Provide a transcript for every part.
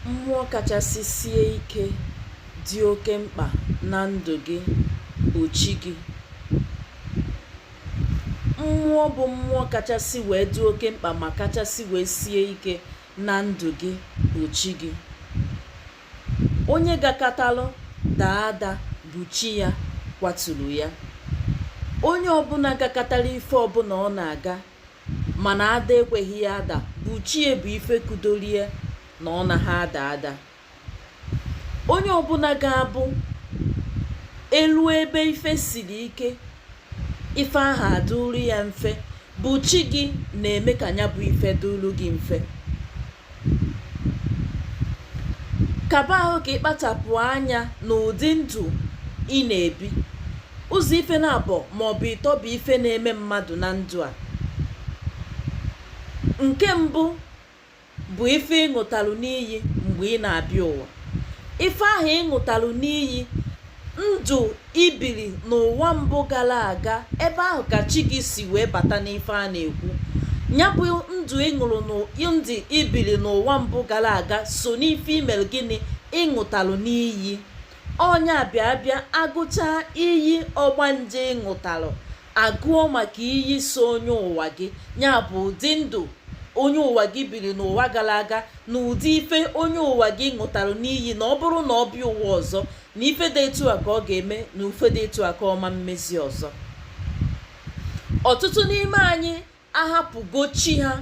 Mmụọ kachasị sie ike dị oke mkpa na ndụ gị bụ chi gị. Mmụọ bụ mmụọ kachasị wee dị oke mkpa ma kachasị wee sie ike na ndụ gị bụ chi gị. Onye gakatalụ daa ada bụ chi ya kwaturu ya. Onye ọbụla gakatara ife ọbụla ọ na-aga mana ada ekweghị ya ada bụ chi ya bụ ife kudoli ya na ọ naghị ada ada onye ọbụla ga-abụ eluo ebe ife siri ike ife ahụ adụrụ ya mfe bụ chi gị na-eme ka ya bụ ife dụrụ gị mfe kaba ahụ ka ị kpachapụ anya n'ụdị ndụ ị na-ebi ụzọ ife naabọ ma ọ bụ ịtọ bụ ife na-eme mmadụ na ndụ a nke mbụ bụ ife ị ṅụtalụ n'iyi mgbe ị na-abịa ụwa ife ahụ ị ṅụtalụ n'iyi ndụ i bili n'ụwa mbụ gara aga ebe ahụ ka chi gị si wee bata n'ife a na-ekwu ya bụ ndụ ụdị ndụ i bili n'ụwa mbụ gara aga so n'ife i mere gịnị ị ṅụtalụ n'iyi ọ nya bịa bịa agụchaa iyi ọgbanje ị ṅụtalụ agụọ maka iyi so onye ụwa gị ya bụ ụdị ndụ onye ụwa gị biri n'ụwa gara aga na ụdị ife onye ụwa gị ṅụtara n'iyi na ọ bụrụ na ọ bịa ụwa ọzọ na ife dị etu a ka ọ ga-eme na ife dị etu a ka ọ ma emezi ọzọ ọtụtụ n'ime anyị ahapụgo chi ha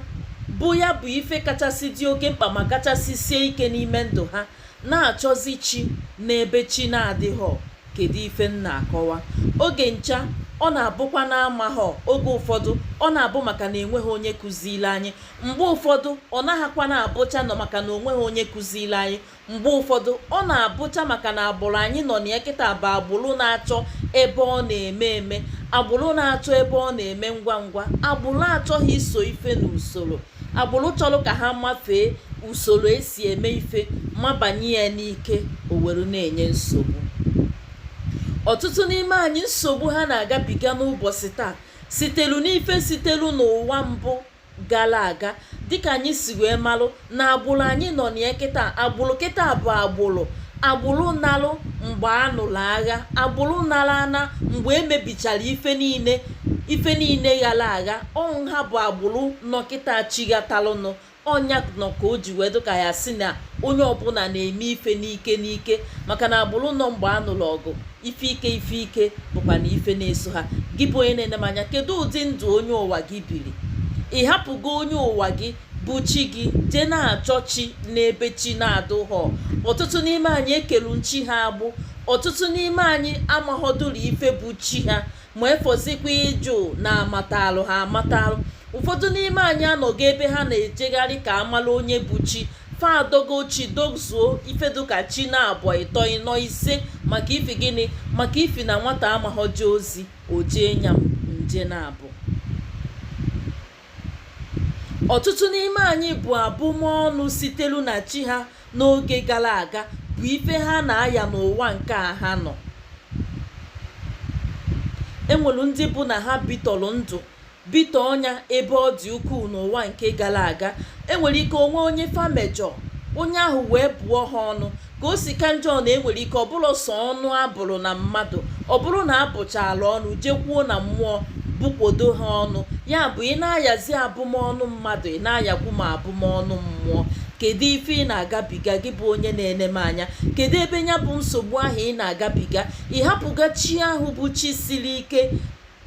bụ ya bụ ife kachasị dị oke mkpa ma kachasị sie ike n'ime ndụ ha na-achọzi chi n'ebe chi na-adịghọ kedu ife m na-akọwa oge ncha ọ na-abụkwa na amaghọ oge ụfọdụ ọ na-abụ maka na enweghị onye kụziiri anyị mgbe ụfọdụ ọ naghịkwa na-abụcha na ọ maka na o nweghị onye kụziiri anyị mgbe ụfọdụ ọ na-abụcha maka na agbụrụ anyị nọ na ya kịta bụ agbụrụ na-achọ ebe ọ na-eme eme agbụrụ na-achọ ebe ọ na-eme ngwa ngwa agbụrụ achọghị iso ife n'usoro agbụrụ chọrọ ka ha mafee usoro e si eme ife mabanye ya n'ike o were na-enye nsogbu ọtụtụ n'ime anyị nsogbu ha na-agabiga n'ụbọchị taa sitelu n'ife sitelu n'ụwa mbụ gara aga dịka anyị si wee malụ na agbụrụ anyị nọ na ya kịta agbụrụ kịta bụ agbụrụ agbụrụ nalụ mgbe a nụrụ agha agbụrụ nara ana mgbe e mebichara ife niile ife niile ghara agha ọ bụ ha bụ agbụrụ nọ kịta chighatalụnụ ọ nya nọ ka o ji wee dụ ka a sị na onye ọbụla na-eme ife n'ike n'ike maka na agbụrụ nọ mgbe a nụrụ ọgụ ife ike ife ike bụkwa na ife na-eso ha gị bụ onye na-ene m anya kedu ụdị ndụ onye ụwa gị biri ị hapụgo onye ụwa gị bụ chi gị jee na-achọ chi n'ebe chi na-adụghọ ọtụtụ n'ime anyị ekelu chi ha agbụ ọtụtụ n'ime anyị amaghọdụrụ ife bụ chi ha ma efọzikwa ịjụ na amatalụ ha amatalụ ụfọdụ n'ime anyị anọgo ebe ha na-ejegharị ka amala onye bụ chi fa adogo chi dozuo ife dụka chi naabọ ịtọ ịnọ ise maka ifi gịnị maka ifi na nwata amaghọ eje ozi o jee nya nje naabọ ọtụtụ n'ime anyị bụ abụmọnụ sitelu na chi ha n'oge gara aga bụ ife ha na-aya n'ụwa nke a ha nọ enwelu ndị bụ na ha bitọrọ ndụ bitọọ nya ebe ọ dị ukwuu n'ụwa nke gara aga enwere ike onwe onye fa mejọ onye ahụ wee bụọ ha ọnụ ka o si ka njọ na enwere ike ọ bụrụ sọ ọnụ abụrụ na mmadụ ọ bụrụ na abụchaala ọnụ jekwuo na mmụọ bụkwodo ha ọnụ ya bụ ị na-ayazi abụmọnụ mmadụ ị na-ayakwu ma abụmọnụ mmụọ kedu ife ị na-agabiga gị bụ onye na-ene m anya kedu ebe ya bụ nsogbu ahụ ị na-agabiga ị hapụgo chi ahụ bụ chi siri ike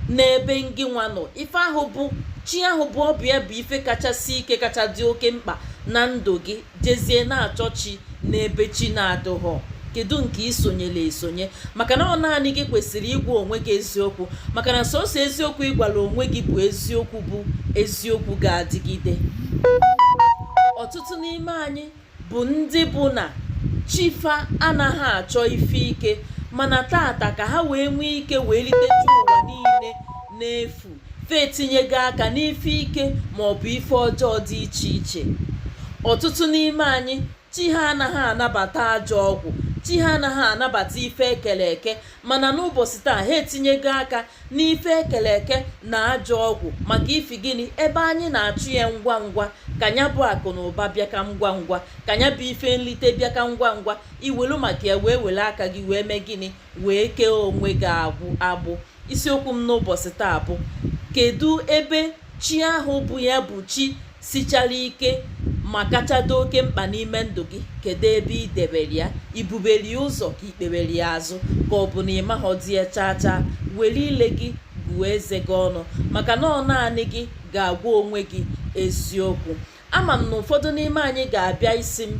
n'ebe ngị nwa nọ ife ahụ bụ chi ahụ bụ ọ bụ ya bụ ife kachasị ike kacha dị oke mkpa na ndụ gị jezie na-achọ chi n'ebe chi na-adụghọ kedu nke i sonyela esonye maka na ọ naanị gị kwesịrị ịgwa onwe gị eziokwu maka na sọsọ eziokwu ị gwara onwe gị bụ eziokwu bụ eziokwu ga-adịgide ọtụtụ n'ime anyị bụ ndị bụ na chi fa anaghị achọ ife ike mana taata ka ha wee nwee ike wee liteju ụwa niile n'efu fa etinyego aka n'ife ike ma ọ bụ ife ọjọọ dị iche iche ọtụtụ n'ime anyị chi ha anaghị anabata ajọ ọgwụ chi ha anaghị anabata ife ekere eke mana n'ụbọchị taa ha etinyego aka n'ife ekele eke na ajọ ọgwụ maka ifi gịnị ebe anyị na-achụ ya ngwa ngwa ka nya bụ akụ na ụba bịa ka ngwa ngwa ka nya bụ ife nlite bịa ka ngwa ngwa i welu maka ya wee were aka gị wee mee gịnị wee kee onwe gị agwụ agbụ isiokwu m n'ụbọchị taa bụ kedu ebe chi ahụ bụ ya bụ chi sichara ike ma kacha dị oke mkpa n'ime ndụ gị kedu ebe ị debere ya i bubere ya ụzọ ka i kpebere ya azụ ka ọ bụ na ị maghọdị ya chaa chaa were ile gị gụọ eze gị ọnụ maka na ọ naanị gị ga-agwa onwe gị eziokwu ama m na ụfọdụ n'ime anyị ga-abịa ịsị m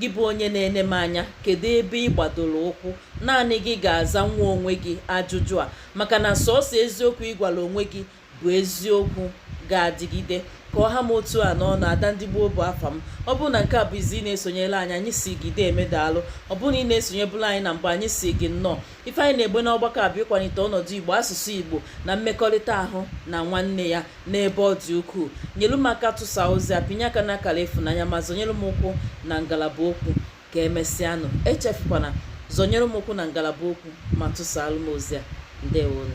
gị bụ onye na-ene m anya kedu ebe ị gbadoro ụkwụ naanị gị ga-azanwu onwe gị ajụjụ a maka na sọọsọ eziokwu ị gwara onwe gị bụ eziokwu ga-adịgide ka ọ ha m otu a n'ọnụ ada ndị igbo bụ afa m ọ bụrụ na nke a bụ izi ị na-esonyelu anyị anyị sị gị deeme daalụ ọ bụrụ na ị na-esonyebulu anyị na mbụ anyị sị gị nnọọ ife anyị na-eme n'ọgbakọ a bụ ịkwalite ọnọdụ igbo asụsụ igbo na mmekọrịta ahụ na nwanne ya n'ebe ọ dị ukwuu nyelu m aka tụsa ozi a pịnye aka n'akara ịfụnanya ma zọnyere m ụkwụ na ngalaba okwu ka emesịanụ echefukwana zọnyere m ụkwụ na ngalaba okwu ma tụsalụ m ozi a ndewonụ